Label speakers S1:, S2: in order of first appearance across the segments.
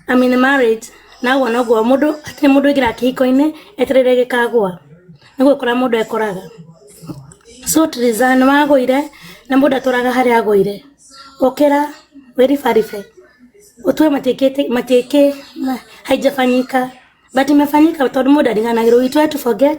S1: I am in a marriage na ũguo noguo mũndũ hatirĩ mũndũ aingĩraga kĩhiko-inĩ etereire gĩkagũa, nĩ gũkora mũndũ ekũraga. So Tiriza nĩ wagũire na mũndũ atũraga harĩa agũire, ũkĩra wĩribaribe ũtue matiĩkĩhĩte haijafanyika but imefanyika tondũ mũndũ ndariganagĩrwo, we try to forget.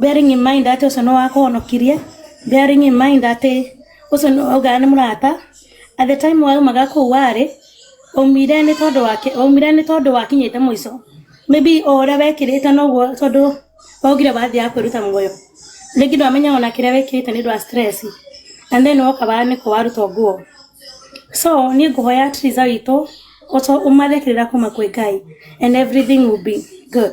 S1: bearing in mind atĩ ũcio nĩ wakũhonokirie bearing in mind atĩ ũcio nĩ waugaga nĩ mũrata at the time waumaga kũu warĩ ũmire nĩ tondũ wa ũmire nĩ tondũ wakinyĩte mũico maybe o ũrĩa wekĩrĩte noguo tondũ waugire wathiaga kwĩruta muoyo rĩngĩ ndwamenyaga ona kĩrĩa wĩkĩrĩte nĩ ũndũ wa stress and then woka bara nĩkũ warutwo nguo so niĩ ngũhoya Theresa witũ ũco ũmathĩkĩrĩra kuma kwĩ Ngai and everything will be good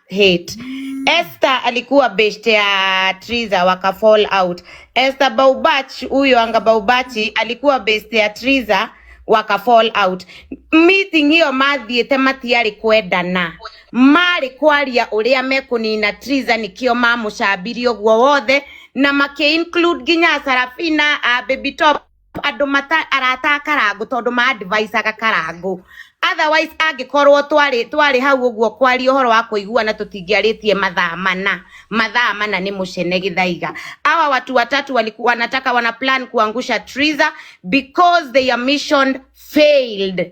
S2: hate Esther alikuwa best ya Triza waka fall out. Esther Baubach huyo anga Baubachi alikuwa best ya Triza waka fall out. Meeting hiyo mathiĩte matiarĩ kwendana marĩ kwaria ũrĩa mekũnina Triza nĩkĩo mamũcambirie ũguo wothe na makĩ include nginya Sarafina a Baby Top andå mata arata a karangå tondå ma advice aga karangå otherwise angĩkorwo twarĩ twarĩ hau ũguo kwaria ũhoro wa kũiguana tũtingĩarĩtie mathaa mana mathaa mana nĩ mũcene gĩthaiga awa watu watatu waliku- wanataka wana plan kuangusha Triza because their mission failed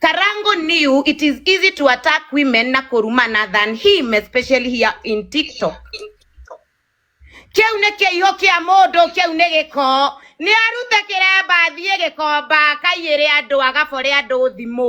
S2: Karango knew it is easy to attack women na kurumana than him, especially here in TikTok. Kiu nĩ kĩiho kĩa mũndũ, kiu nĩ gĩko. Nĩ arute kĩremba athiĩ gĩkomba, akaiyĩre andũ, agabore andũ thimũ.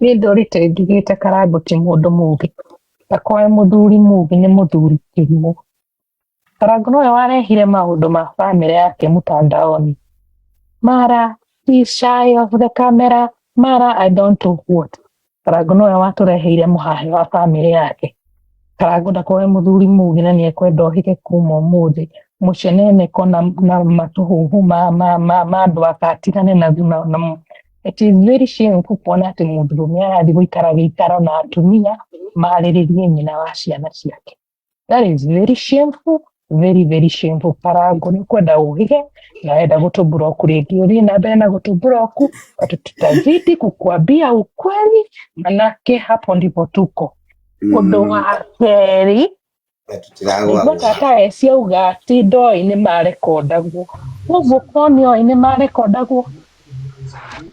S3: Niĩ ndorite njugĩte karambũti mũndũ mũgĩ, ndakoe mũthuri mũgĩ nĩ mũthuri kĩrimũ. Karangũ nowe warehire maũndũ ma bamĩrĩ yake mũtandaoni. Mara he's shy of the camera, mara I don't know what. Karangũ nowe watũreheire mũhahĩ wa bamĩrĩ yake. Karangũ ndakoe mũthuri mũgĩ na nĩekwenda ohĩge kuma ũmũthĩ. Mũceneneko na na matũhũhũ ma ma ma ma andũ ake atigane na na. It is very shame kuona atĩ mũndũrũme arathiĩ gũikara gĩikaro na atumia marĩrĩrie nyina wa ciana ciake. That is very shameful, very very shameful. Karangũ nĩ kwenda ũhĩge na wenda gũtũmbũra oku rĩngĩ ũthiĩ na mbere na gũtũmbũra oku, watu tutazidi kukuambia ukweli, manake hapo ndipo tuko. Ũndũ wa kerĩ na tũtiragwa Nĩguo gwa tata eci auga atĩ ndoĩ nĩ marekondagwo. Ũguo korwo nĩ oĩ nĩ marekondagwo,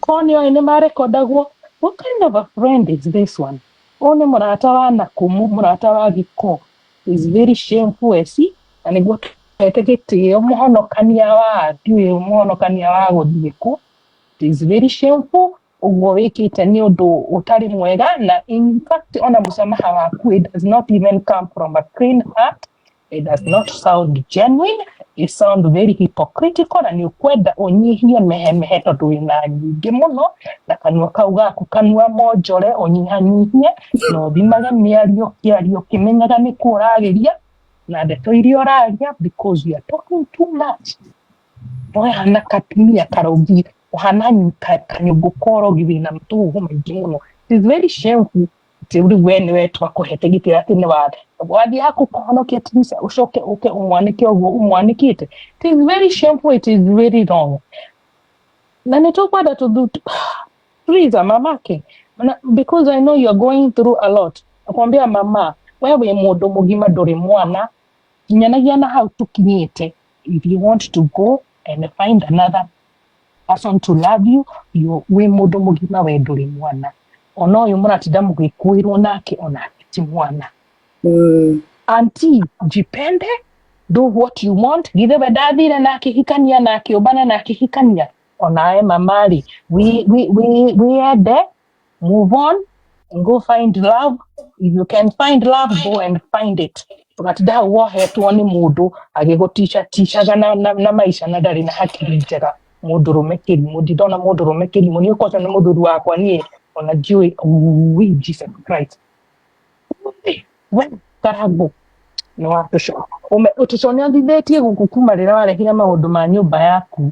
S3: korwo nĩ oĩ nĩ marekondagwo, what kind of a friend is this one? Ũyũ nĩ mũrata wa nakũmũ, mũrata wa gĩko. Is very shameful eci, na nĩguo twete gĩtĩo mũhonokania wa andũ, ũyũ mũhonokania wa gũthiĩ kũ. It is very shameful. ũguo wĩkĩte nĩ ũndũ ũtarĩ mwega na in fact ona mũsamaha waku it does not even come from a clean heart it does not sound genuine it sound very hypocritical na nĩ ũkwenda ũnyihie mehemehe tondũ wĩna nyingĩ mũno na kanua kau gaku kanua monjore ũnyihanyihie na ũthimage mĩario kĩario kĩmenyaga nĩ kuo ũragĩria na ndeto iria ũraria because you are talking too much we hana katumia karũngi ũhana kanyũngũ korogi wĩna matũhũhũ maingĩ mũno is very shameful atĩ rĩu we nĩwe twakũhete gĩtĩ atĩ nĩ wathe wathiĩ haku kũhonokia tumisa ũcoke ũke ũmwanĩke ũguo ũmwanĩkĩte it is very shameful it is very wrong na nĩ tũkwenda tũthu please mamake because i know you are going through a lot akwambia mama we wĩ mũndũ mũgima ndũrĩ mwana kinyanagia na hau tũkinyĩte if you want to go and find another person to love you, you wĩ mũndũ mũgima we ndũrĩ mwana ona ũyũ mũratinda mũgĩkuĩrwo nake onake ti mwana mm. anti jipende do what you want githe we ndathire na akĩhikania na akĩũmbana na akĩhikania onawe mamari wĩyende move on and go find love if you can find love go and find it tũgatidaga wohetwo nĩ mũndũ agĩgũticha ticaga na, na, na maica na ndarĩ na hakiri njega mũndũrũme kĩrimũ ndindona mũndũrũme kĩrimũ nĩ ũkota nĩ mũthuri wakwa niĩ ona njũĩ ui jesus christ Ui, we karangũ nĩ watũco ũme ũtũco nĩ athithĩtie gũkũ kuma rĩrĩa warehire maũndũ ma nyũmba yaku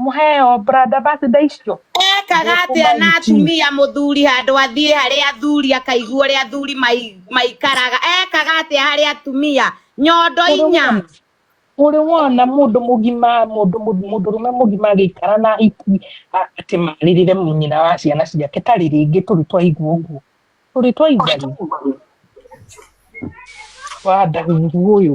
S3: Mũheo brand ambassador icio. Ekaga atĩa
S2: na atumia mũthuri handũ athiĩ harĩa athuri akaigua ũrĩa athuri mai- maikaraga ekaga atĩa harĩ atumia nyondo inya Ũrĩ
S3: wona mũndũ mũgima mũndũ mũndũ- mũndũrũme mũgima agĩikara na hiki a- atĩ marĩrĩre nyina wa ciana ciake tarĩ rĩngĩ tũrĩ twaigua ũguo tũrĩ twaigua rĩ wa ndaguru ũyũ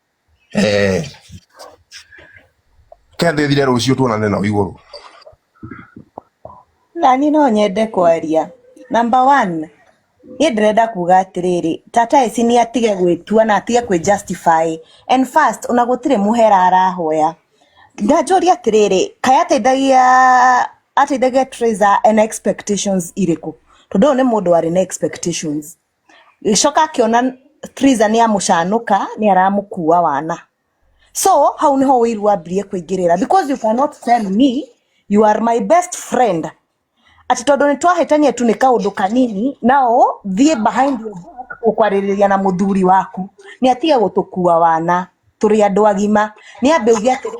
S4: eh kende thire rucio tuonane na iguru
S5: nani no nyende kwaria number 1 ni ndirenda kuga atiriri tata eci ni atige gwitua na atige kwi justify and first ona gutire muhera arahoya ndanjũria atĩrĩrĩ kaĩ ateithagia ateithagia Teresa ena expectations irĩkũ tondũ ũyũ nĩ mũndũ warĩ na expectations gĩcoka akĩona Triza nĩ amũcanũka nĩ aramũkua wana so hau nĩho ũiru wambirie kũingĩrĩra because you cannot tell me you are my best friend atĩ tondũ nĩ twahĩtania tu nĩ kaũndũ kanini nao thiĩ behind your back ũkwarĩrĩria na mũthuri waku nĩ atige gũtũkua wana tũrĩ andũ agima nĩ ambe uge atĩrĩ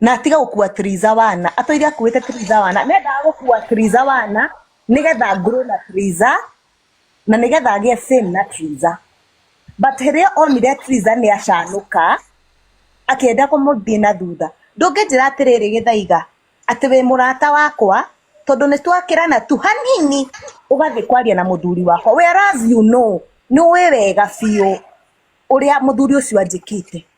S5: na atige gukua Triza wana atwire akuite Triza wana nendaga gukua Triza wana nigetha nguru na Triza na nigetha agie sin na Triza but hĩrĩa onire Triza nĩ acanuka akienda kũmũthiĩ na thutha ndũngĩnjĩra atĩrĩrĩ gĩthaiga atĩ wĩ mũrata wakwa tondũ nĩ twakĩrana tu hanini ũgathiĩ kwaria na mũthuri wakwa whereas you know nĩ ũĩ wega biũ ũrĩa mũthuri ũcio anjĩkĩte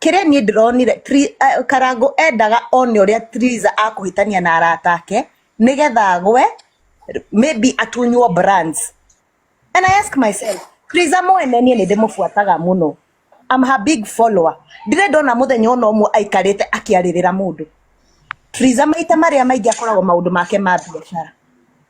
S5: kĩrĩa niĩ ndĩronire Tri- eh, karangũ endaga one ũrĩa triza akũhĩtania na arata ake nĩgetha agwe maybe atunywo brands and i ask myself triza mwene niĩ nĩ ndĩmũbuataga mũno am her big follower ndirĩ ndona mũthenya ona ũmwe aikarĩte akĩarĩrĩra mũndũ triza maita marĩa maingĩ akoragwo maũndũ make ma biacara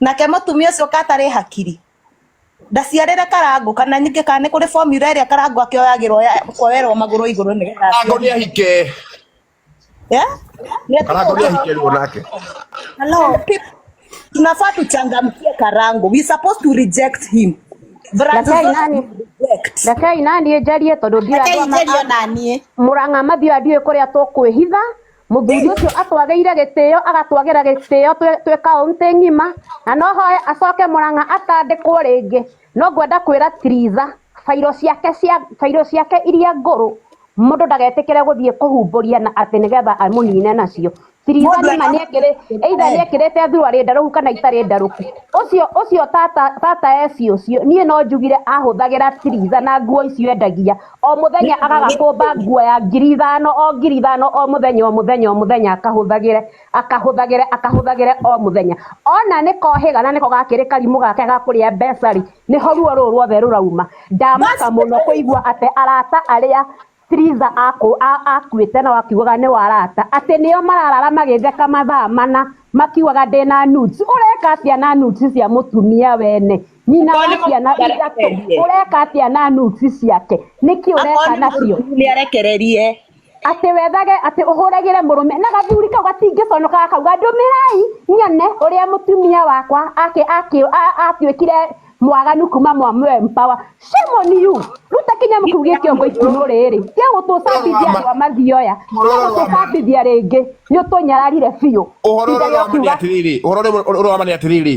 S5: Nake mũtumia ũcio ka atarĩ hakiri ndaciarĩre karangũ kana nyingĩ kana nĩ kũrĩ formula ĩrĩa karangũ akĩoyagĩrwo koerwo magũrũ igũrũ nĩ getha karangũ nĩ ahike karangũ
S4: nĩ ahike rĩu nake
S5: hello tunafaa tuchangamkie karangũ we supposed to reject him rekei
S6: naniĩ njarie tondũ ndiramũrang'a
S5: mathiũ
S6: andiũĩ kũrĩa tũkwĩhitha Mũthuri ũcio atwagĩire gĩtĩo agatwagĩra gĩtĩo twĩ kaũntĩ ng'ima na no hoe acoke Mũrang'a atandĩkwo rĩngĩ no ngwenda kwĩra Tritha bairũ ciake cia bairũ ciake iria ngũrũ mũndũ ndagetĩkĩre gũthiĩ kũhumbũria na atĩ nĩgetha amũnine nacio. Tritha nĩma nĩekĩrĩ either nĩekĩrĩte thuruarĩ ndarũku kana itarĩ ndarũku. Ũcio ũcio tata tata eci ũcio niĩ no njugire ahũthagĩra Tritha na nguo icio endagia o mũthenya agagakũmba nguo ya ngiri ithano o ngiri ithano o mũthenya o mũthenya o mũthenya akahũthagĩre akahũthagĩre akahũthagĩre o mũthenya ona nĩ kohĩga na nĩko gakĩrĩ karimũ gake gakũrĩa mbeca rĩ nĩho ruo rũrũ ruothe rũrauma ndamaka mũno kũigua atĩ arata arĩa Triza akuĩte na wakiugaga nĩ warata atĩ nĩo mararara magĩtheka mathaa mana makiugaga ndĩna nudes ũreka atĩa na nudes cia mũtumia wene nyina Okorwo wa nĩ ciana mũtumia ithatũ arekererie. ũreka atĩa na nuci ciake nĩkĩ Akorwo ũreka nĩ nacio mũrũmu nĩ arekererie.
S5: atĩ wethage
S6: atĩ ũhũragĩre mũrũme na gathuri kau gatingĩconoka gakauga ndũmĩrai nyone ũrĩa mũtumia wakwa ake ake a- atuĩkire mwaganu kuma mwa mwempawa shemoniyu ruta kĩnyamũ kĩu gĩ kĩongo itimũ rĩrĩ gĩgũtũcambithia andũ a mathioya gĩgũtũcambithia rĩngĩ nĩ ũtũnyararire biũ ũhoro Ihinda ũrĩa rĩa ũramane kuga-
S4: atĩrĩrĩ ũhoro ũrĩa ũramane atĩrĩrĩ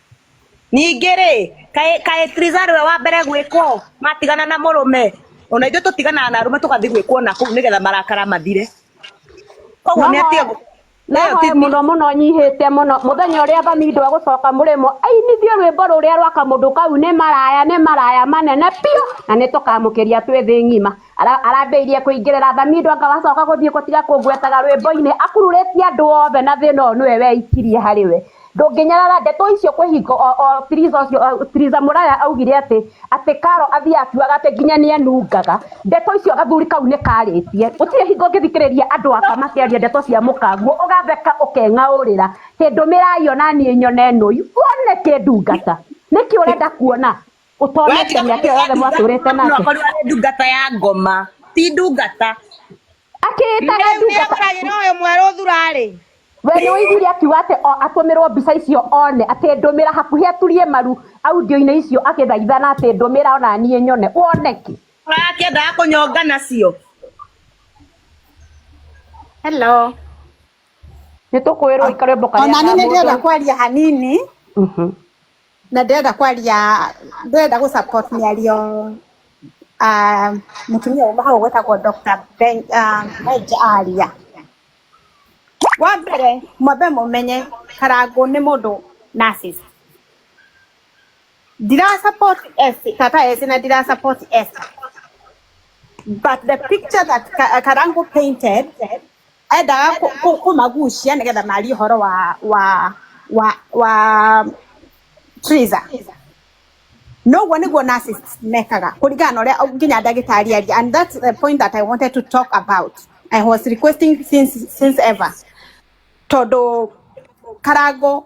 S5: Ningĩ rĩ, kaĩ kaĩ Trizah nĩwe wa mbere gwĩkwo matigana na mũrũme? Ona ithuĩ tũtiganaga na arũme tũgathiĩ gwĩkwo nakũu nĩgetha marakara mathire. Koguo nĩ atige gũ- No nayo hoye ti- mũno
S6: mũno nyihĩte mũno mũthenya ũrĩa thamindo agũcoka mũrĩmo ainithie rwĩmbo rũrĩa rwa kamũndũ kau nĩ maraya nĩ maraya manene biũ na nĩ tũkamũkĩria twĩ thĩ ng'ima Ara- arambĩirie kũingĩrĩra thamindo anga wacoka gũthiĩ gũtiga kũngwetaga rwĩmbo-inĩ akururĩtie andũ othe na thĩna ũyũ nĩwe weikirie harĩ we ndũngĩnyarara ndeto icio kwĩ hingo o, o tiriza ũcio o, tiriza mũraya augire atĩ atĩ karo athiĩ akiugaga atĩ nginya nĩ enungaga ndeto icio gathuri kau nĩ karĩtie gũtirĩ hingo ũngĩthikĩrĩria andũ aka makĩaria ndeto cia mũkanguo ũgatheka ũkeng'aũrĩra kĩndũ mĩrayo na niĩ nyone nũi wone kĩndungata nĩkĩ ũrenda kuona ũtonete mĩaka ĩyo yothe mwatũrĩte nake akorwo arĩ ndungata ya
S5: ngoma ti ndungata akĩĩtaga
S6: Rĩu nĩ ndungata agũragĩra ũyũ mwerũ
S2: thurarĩ we nĩ ũiguire
S6: akiuga atĩ o atũmĩrwo mbica icio one atĩ ndũmĩra hakuhĩ aturie maru audio-inĩ icio agĩthaithana atĩ ndũmĩra ona niĩ nyone wone kĩ akĩendaga
S5: kũnyonga nacio
S6: Hello. nĩ tũkwĩrwo ikarembo karĩa Ona niĩ nĩ ndĩrenda mũndũ- kwaria
S7: hanini. Mhm. na ndĩrenda kwaria ndĩrenda gũ support mĩario ah, mũtumia uma hau gwĩtagwo Dr. Ben ah, Benja aria wa mbere mwambe mũmenye karangũ nĩ mũndũ narcissist ndira support S tata S na ndira support S but the picture that Ka- Karangu painted endaga kũ- kũ- kũmagucia nĩgetha marie ũhoro wa wa wa wa Teresa noguo nĩguo narcissists mekaga kũringana na ũrĩa nginya ndagĩtarĩ aria and that's the point that I wanted to talk about I was requesting since, since ever tondũ karango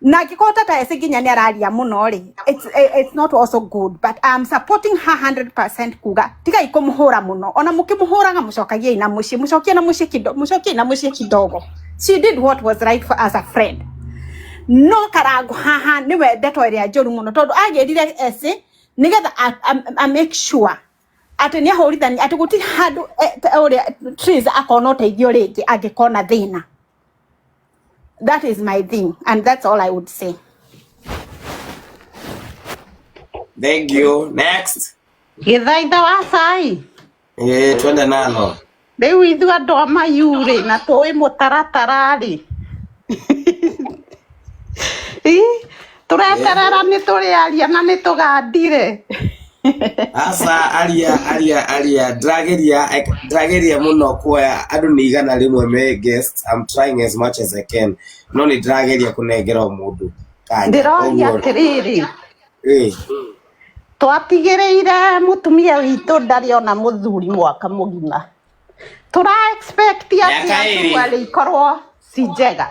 S7: na angĩkorwo tata ese nginya nĩ araria mũno rĩ it's, eh, it's not also good but I'm supporting her 100% kuga tigai kũmũhũra mũno ona mũkĩmũhũraga mũcokagiei na mũciĩ mũcokie na mũciĩ kido- mũcokie na mũciĩ kidogo she did what was right for as a friend no karango haha nĩwe ndeto ĩrĩa njũru mũno tondũ agĩrire ese nĩgetha a- a- a make sure atĩ nĩ ahũrithani atĩ gũtirĩ handũ eh, ta ũrĩa Triz akona ũteithio rĩngĩ angĩkona thĩna That is my thing, and that's all I would say.
S8: Thank you. Next. Githaitha wa
S2: cai. Eh,
S8: twende nalo. Rĩu ithuĩ
S2: andũ a mayurĩ na tũĩ mũtaratara rĩ. tũreterera nĩ tũrĩaria na nĩ tũgandire
S8: aca aria aria aria ndĩrageria ndĩrageria mũno kuoya andũ nĩ igana rĩmwe me guest I'm trying as much as I can no nĩ ndĩrageria kũnengera o mũndũ kanya ndĩroria Ũguo-
S2: atĩrĩrĩ Ĩĩ. twatigĩrĩire mũtumia witũ ndarĩ ona mũthuri mwaka mũgima tũra expect atĩ Mĩaka ĩrĩ. atũarĩ ikorwo ci njega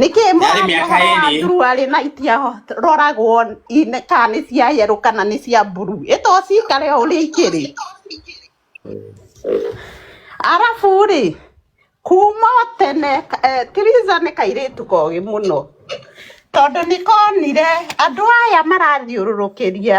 S2: nĩkĩ Yarĩ mĩaka ĩrĩ. mũrarĩ arĩ na itiaroragwo ine- kana nĩ cia yerũ kana nĩ cia mburu ĩto cikare o ũrĩa ikĩrĩ arabu rĩ kuma o tene eh, tiriza nĩ kairĩtu kogĩ mũno tondũ nĩ konire andũ aya marathiũrũrũkĩria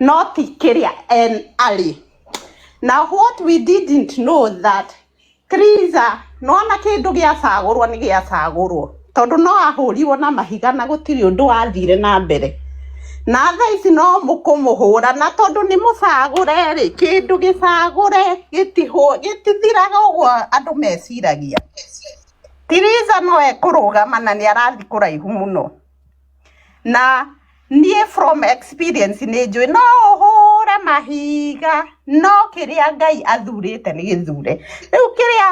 S2: not kĩrĩa en arĩ na what we didn't know that Teresa nona kĩndũ gĩacagũrwo nĩ gĩacagũrwo tondũ no ahũrirwo na mahiga na gũtirĩ ũndũ wathire na mbere na thaa ici no mũkũmũhũra na tondũ nĩ mũcagũre rĩ kĩndũ gĩcagũre gĩtihũ- gĩtithiraga ũguo andũ meciragia Teresa no ekũrũgama na nĩ arathiĩ kũraihu mũno na niĩ from experience nĩ njũĩ no ũhũre mahiga no kĩrĩa ngai athurĩte nĩ gĩthure rĩu kĩrĩa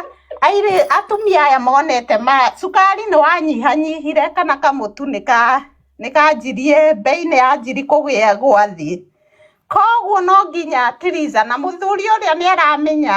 S2: airĩ
S7: atumia aya monete ma cukari nĩ wanyihanyihire kana kamũtu nĩ ka nĩ kanjirie mbei nĩ yanjiri kũgĩa gwa thĩ koguo no nginya Tiriza na mũthuri ũrĩa nĩ aramenya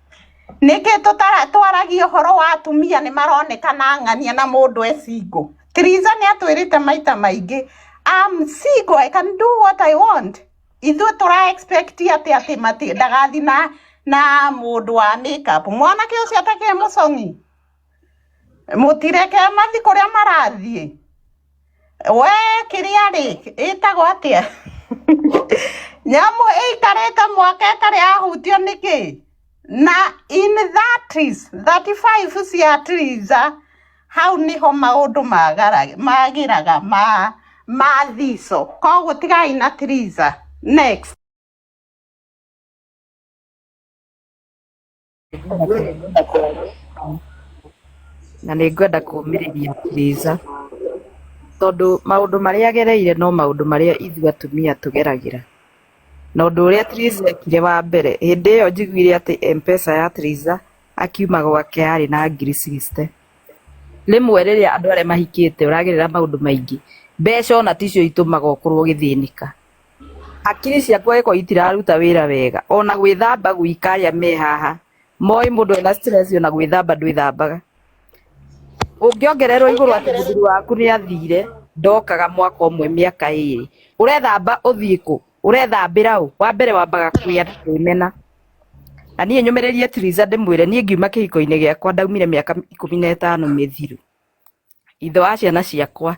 S7: Nĩkĩ tũtaragia ũhoro wa atumia nĩ maronekana ang'ania na mũndũ e single? Tiriza nĩ atwĩrĩte maita maingĩ I'm single I can do what I want. Ithuĩ tũra expect atĩ atĩ mati ndagathi na na mũndũ wa make up. Mwanake ũcio atakĩrĩ mũcong'i? mũtireke mathi kũrĩa marathiĩ we kĩrĩa rĩ ĩtagwo atĩa nyamũ ĩikarĩte mwaka ĩtarĩ yahutio nĩkĩ na in that is 35 cia tiriza hau niho maũndũ magara- magĩraga ma ma thico koguo tigai na tiriza next
S9: na nĩ ngwenda kũmĩrĩria Teresa tondũ maũndũ marĩa agereire no maũndũ marĩa ithuĩ atumia tũgeragĩra na ũndũ ũrĩa Teresa ekire wa mbere hĩndĩ ĩyo njiguire atĩ M-Pesa ya Teresa akiuma gwake yarĩ na ngiri sixty rĩmwe rĩrĩa andũ arĩa mahikĩte ũragerera maũndũ maingĩ mbeca ona ticio itũmaga ũkorwo ũgĩthĩnĩka Akiri ciakwa iko itiraruta wira wega ona gwithamba gwika aya me haha moĩ mũndũ ena stress ona gwithamba ndwithambaga ũngĩongererwo igũrũ atĩ mũthuri waku nĩ athire ndokaga mwaka ũmwe mĩaka ĩrĩ ũrethamba ũthiĩ kũ ũrethambĩra ũ wa mbere wambaga kwĩya na kwĩmena na niĩ nyũmĩrĩrie Tiriza ndĩmwĩre niĩ ngiuma kĩhiko-inĩ gĩakwa ndaumire mĩaka ikũmi na ĩtano mĩthiru Ithe wa ciana ciakwa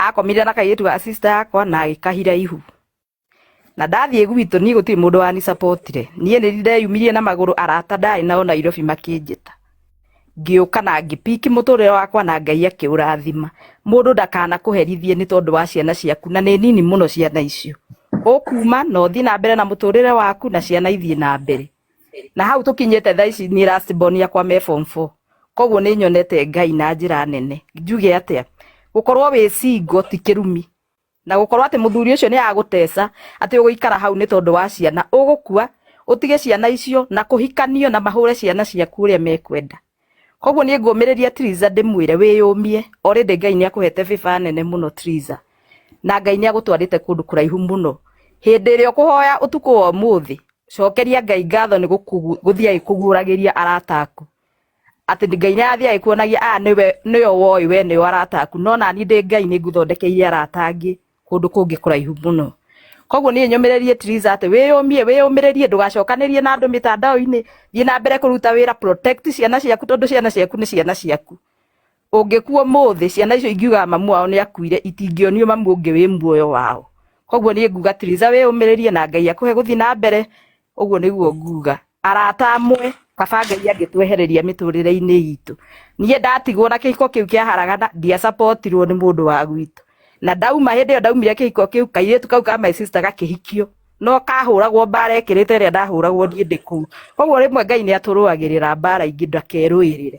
S9: akomire na kairĩtu ga sister yakwa na agĩkahira ihu na ndathiĩ gwitũ niĩ gũtirĩ mũndũ wani supportire niĩ nĩ ndeyumirie na magũrũ arata ndarĩ nao Nairobi makĩnjĩta ngĩũka na ngĩpiki mũtũrĩre wakwa na Ngai akĩũrathima mũndũ ndakana kũherithie nĩ tondũ wa ciana ciaku na nĩ nini mũno ciana icio ũkuma na ũthiĩ na mbere na mũtũrĩre waku na ciana ithiĩ na mbere na hau tũkinyĩte thaa ici niĩ last born yakwa me form four koguo nĩ nyonete ngai na njĩra nene njuge atĩa gũkorwo wĩ singo ti kĩrumi na gũkorwo atĩ mũthuri ũcio nĩ agũteca atĩ ũgũikara hau nĩ tondũ wa ciana ũgũkua ũtige ciana icio na kũhikanio na mahũre ciana ciaku ũrĩa mekwenda koguo niĩ ngũmĩrĩria Triza ndĩmwĩre wĩyũmie o rĩndĩ Ngai nĩ akũhete bĩba nene mũno Triza na Ngai nĩ agũtwarĩte kũndũ kũraihu mũno hĩndĩ ĩrĩa ũkũhoya ũtukũ wa ũmũthĩ cokeria Ngai ngatho nĩ gũthiĩ agĩkũguũragĩria arata aku atĩ Ngai nĩ arathiĩ agĩkuonagia aya nĩwe nĩyo woĩ we nĩo arata aku no nani ndĩ Ngai nĩ ngũthondekeire arata angĩ kũndũ kũngĩ kũraihu mũno koguo niĩ nyũmĩrĩrie Tiriza atĩ wĩyũmie wĩyũmĩrĩrie ndũgacokanĩrie na andũ mĩtandao-inĩ thiĩ na mbere kũruta wĩra protect ciana ciaku tondũ ciana ciaku nĩ ciana ciaku ũngĩkuo mũthĩ ciana icio ingiugaga mamu wao nĩ akuire itingĩonio mamu ũngĩ wĩ muoyo wao koguo niĩ nguga Tiriza wĩyũmĩrĩrie na Ngai akũhe gũthiĩ na mbere ũguo nĩguo nguga arata amwe kaba ngai angĩtwehereria mĩtũrĩre-inĩ itũ niĩ ndatigwo na kĩhiko kĩu kĩaharagana ndiacapotirwo nĩ mũndũ wa gwitũ na ndauma hĩndĩ ĩyo ndaumire kĩhiko kĩu kairĩtu kau ka my sister gakĩhikio no kahũragwo mbara ekĩrĩte ĩrĩa ndahũragwo niĩ ndĩ kũu koguo rĩmwe ngai nĩ atũrũagĩrĩra mbara ingĩ ndakerũĩrĩre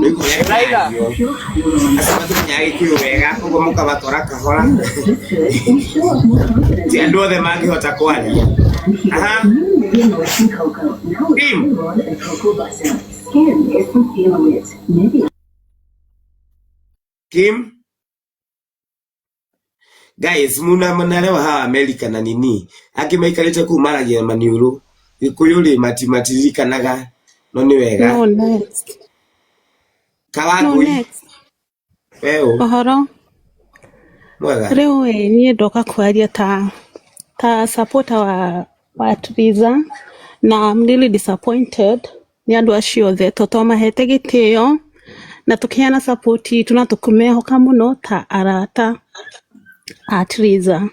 S8: rĩu mũreka irio akamatukinya gĩkiro wega koguo mũkabatwara kahora ti andũ othe mangĩhota kwaria aha Tim. Kim guys muna mnaelewa hawa America na nini angĩ maikarĩte kuu maragia maniũrũ gĩkũyũ rĩ mati matiririkanaga no nĩ wega No next. No kawangũi
S10: next. weũ
S8: Ũhoro. mwega Rĩu ĩ,
S10: niĩ ndoka kwaria ta ta supporter wa wa Triza na I'm really disappointed nĩ andũ acio othe to twamahete gĩtĩo na tũkĩheana support itũ na tũkĩmehoka mũno ta arata a Theresa.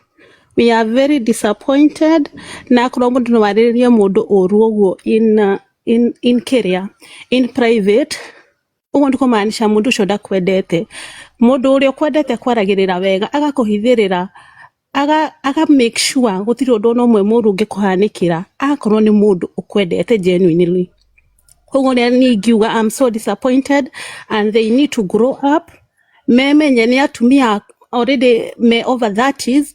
S10: We are very disappointed na akorwo mũndũ no arĩrĩrie mũndũ ũru ũguo in, uh, in, in kĩrĩa in private ũguo nĩ kũmaanisha mũndũ ũcio ndakwendete mũndũ ũrĩa ũkwendete kwaragĩrĩra wega agakũhithĩrĩra aga aga make sure gũtirĩ ũndũ ona ũmwe mũru ũngĩkũhanĩkĩra akorwo nĩ mũndũ ũkwendete genuinely koguo nĩ niĩ ingiuga I'm so disappointed and they need to grow up memenye nĩ atumia already me over 30s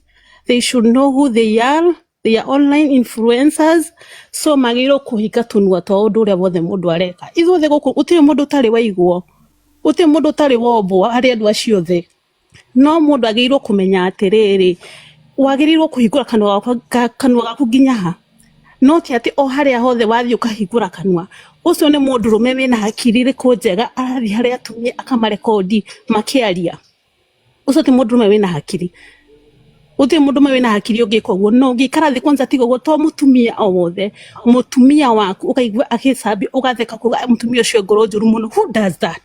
S10: they should know who they are they are online influencers so magĩrĩirwo kũhinga tũnua twa ũndũ ũrĩa wothe mũndũ areka ithuothe gũkũ gũtirĩ mũndũ ũtarĩ waiguo gũtirĩ mũndũ ũtarĩ wombwo harĩ andũ acio othe no mũndũ agĩrĩirwo kũmenya atĩrĩrĩ, wagĩrĩirwo kũhingũra kanua gaku, ka, kanua gaku nginya ha? No ti atĩ o harĩa hothe wathiĩ ũkahingũra kanua. Ũcio nĩ mũndũrũme wĩna hakiri ĩrĩkũ njega arathiĩ harĩ atumia akamarekondi makĩaria? Ũcio ti mũndũrũme wĩna hakiri. Gũtirĩ mũndũrũme wĩna hakiri ũngĩka ũguo, na ũngĩikara thĩ kwanja tiga ũguo to mũtumia o wothe, mũtumia waku ũkaigua agĩcambia, ũgatheka ũkauga mũtumia ũcio ngoro njũru mũno, who does that?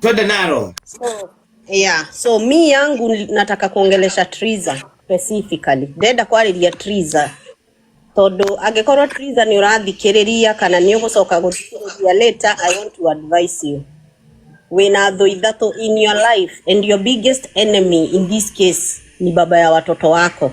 S8: Twende nalo. So, yeah.
S11: So mi yangu nataka kuongelesha Triza specifically. Ndenda kwarĩria Triza tondũ angĩkorwo Triza nĩ ũrathikĩrĩria kana nĩ ũgũcoka gũthikĩrĩria later, I want to advise you wĩna thũ ithatũ in your life and your biggest enemy in this case ni baba ya watoto wako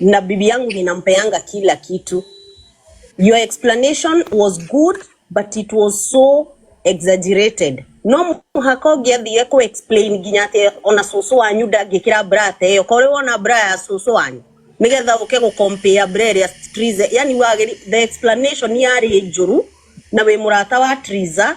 S11: na bibi yangu ninampeanga kila kitu your explanation was good but it was so exaggerated no mũhaka ũngĩathiire kũ explain nginya atĩ ona cũcũ wanyu ndangĩkĩra bra ta ĩyo korĩ wona bra ya cũcũ wanyu nĩgetha ũke gũ compare bra ĩrĩa Triza yani wagĩri the explanation yarĩ njũru na wĩ mũrata wa Triza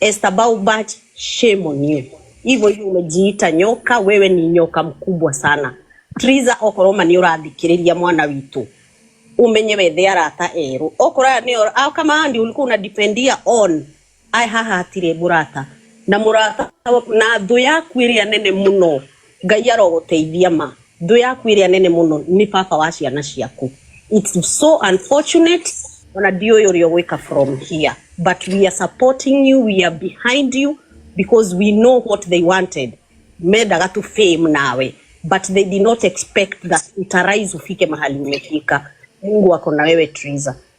S11: Esther Baubach, shame on you. Hivyo hivyo umejiita nyoka, wewe ni nyoka mkubwa sana. Triza okorwo ma nĩ ũrathikĩrĩria mwana witũ umenye wethe arata erũ okorwo aya nĩo au kama andi ulikuwa unadependia on ai haha hatirĩ mũrata na mũrata na thũ yaku ĩrĩa nene mũno Ngai arogũteithia ma. Thũ yaku ĩrĩa nene mũno nĩ baba wa ciana ciaku. It's so unfortunate ona ndiũĩ ũrĩa ũgwĩka from here but we are supporting you, we are behind you because we know what they wanted. Mendaga tu fame nawe but they did not expect that utarise ufike mahali umefika. Mungu ako na wewe Triza.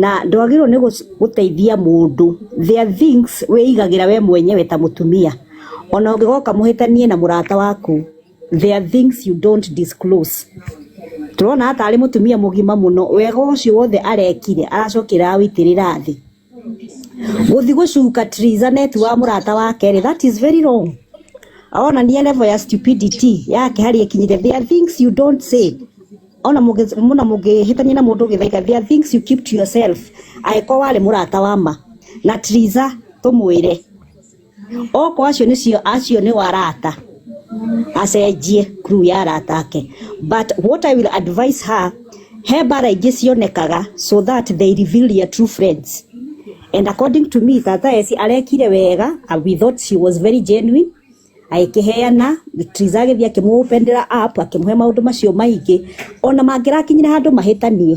S12: Na ndwagĩrĩirwo nĩ gũteithia mũndũ, there are things wĩigagĩra we mwenyewe ta mũtumia, ona ũngĩgoka mũhĩtanie na mũrata waku, there are things you don't disclose. Tũrona haha tarĩ mũtumia mũgima mũno, wega ũcio wothe arekire aracokire aragũitĩrĩra thĩ. Gũthiĩ gũcuka Theresa neti wa mũrata wa kerĩ that is very wrong. Aronania level ya stupidity yake harĩa ĩkinyĩte. There are things you don't say ona mũngĩhĩtania na mũndũ gĩthaiga there are things you keep to yourself angĩkorwo warĩ mũrata wa ma na Theresa tũmwĩre. Oko acio nicio acio ni warata acenjie crew ya arata ake but what I will advise her he mbara ingĩ cionekaga so that they reveal their true friends and according to me tata Esi arekire wega and we thought she was very genuine agĩkĩheana Triza agĩthiĩ akĩmũ openera up akĩmũhe maũndũ macio maingĩ ona mangĩrakinyire handũ mahĩtanie.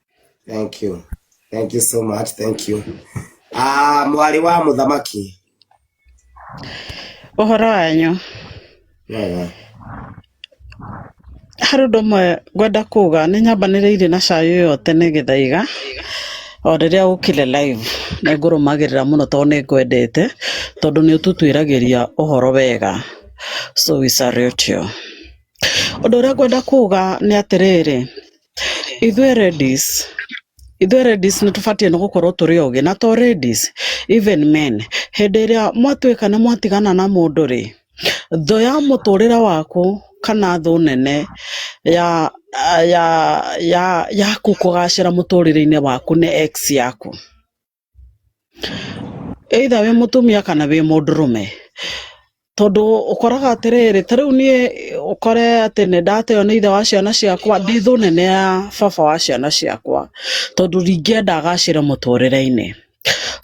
S8: thank you thank you so much thank you ah mwarĩ wa mũthamaki
S13: Ũhoro wanyu. wega Harĩ ũndũ ũmwe ngwenda kuga nĩ nyambanĩrĩire na cai ũyũ tene gĩthaiga o rĩrĩa ũkire live nĩ ngũrũmagĩrĩra mũno tondũ nĩ ngwendete tondũ nĩ ũtũtuĩragĩria ũhoro wega so we salute you. Ũndũ ũrĩa ngwenda kuga nĩ atĩrĩrĩ ithuĩ ladies ithuĩ ladies nĩ tũbatiĩ nĩ gũkorwo tũrĩ ogĩ na to ladies even men hĩndĩ ĩrĩa mwatuĩka nĩ mwatigana na mũndũ rĩ thũ ya mũtũrĩre waku kana thũ nene ya ya ya yaku kũgacĩra mũtũrĩre-inĩ waku nĩ ex yaku either wĩ mũtumia kana wĩ mũndũrũme tondũ ũkoraga atĩrĩrĩ ta rĩu niĩ ũkore atĩ nĩ ndateo nĩ ithe wa ciana ciakwa ndĩ thũ nene ya baba wa ciana ciakwa tondũ ndingĩenda agacĩre mũtũrĩre-inĩ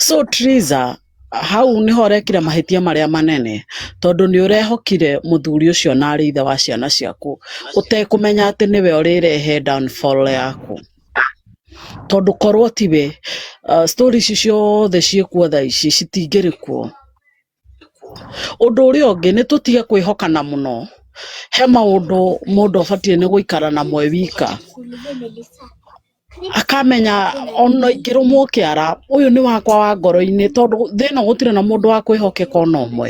S13: so Triza hau nĩho ũrekire mahĩtia marĩa manene tondũ nĩ ũrehokire mũthuri ũcio na arĩ ithe wa ciana ciaku ũtekũmenya atĩ nĩwe ũrĩrehe downfall yaku. Tondũ korwo tiwe, story ici ciothe ciĩkuo thaa ici citingĩrĩ kuo. Ũndũ ũrĩa ũngĩ nĩ tũtige kwĩhokana mũno, he maũndũ mũndũ abatiĩ nĩ gũikara namo e wika, akamenya ona ingĩrũmwo kĩara ũyũ nĩ wakwa wa ngoro-inĩ tondũ thĩ ĩno gũtirĩ na mũndũ wa kwĩhokeka ona ũmwe.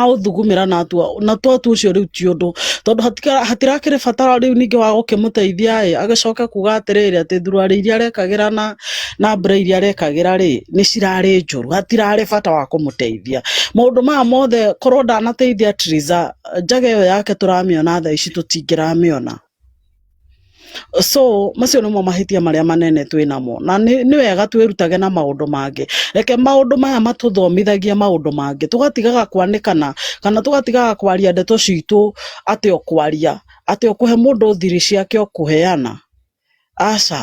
S13: aũthugumĩra na atua na twatua ũcio rĩu ti ũndũ tondũ hatika- hatirakĩrĩ bata rĩu ningĩ wa gũkĩmũteithia ĩ agĩcoke kuga atĩrĩrĩ atĩ thuruarĩ iria arekagĩra na na mbura iria arekagĩra rĩ nĩ cirarĩ njũru hatirarĩ bata wa kũmũteithia maũndũ maya mothe korwo ndanateithia Theresa njaga ĩyo yake tũramĩona thaa ici tũtingĩramĩona So macio nĩmo mahĩtia marĩa manene twĩ namo, na nĩ nĩ wega twĩrutage na maũndũ mangĩ, reke maũndũ maya matũthomithagie maũndũ mangĩ, tũgatigaga kwanĩkana, kana tũgatigaga kwaria ndeto citũ atĩ o kwaria, atĩ o kũhe mũndũ thiri ciake o kũheana, aca.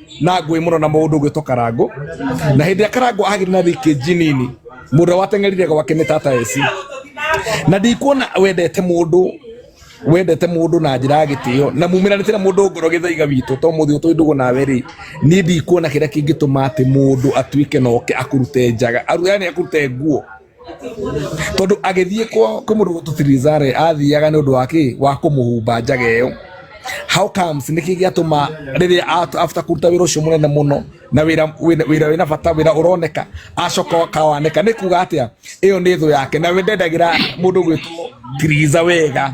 S14: na ngũĩ mũno na mũndũ ũgwĩtwo karangũ na hĩndĩ ĩrĩa karangũ agire na rĩkĩ njinini mũndũ ũrĩa wateng'erire gwake nĩ tata eci na ndikuona wendete mũndũ wendete mũndũ na njĩra ya gĩtĩo na mumiranĩte na mũndũ ngoro gĩthaiga witũ to mũthĩ ũtũ ndũgũ nawe rĩ niĩ ndikuona kĩrĩa kĩngĩtũma atĩ mũndũ atuĩke na oke akũrute njaga aru yani akũrute nguo tondu agithie kwa kwa mundu gutu Tirizare athiaga ni undu wake wa kumuhumba njaga iyo how comes niki giatuma riria at- after kuruta wira ucio munene muno na wira wira wira wina bata wira uroneka acoka kawaneka ni kuga atia iyo ni thu yake na we ndendagira mundu gwitwo Tiriza wega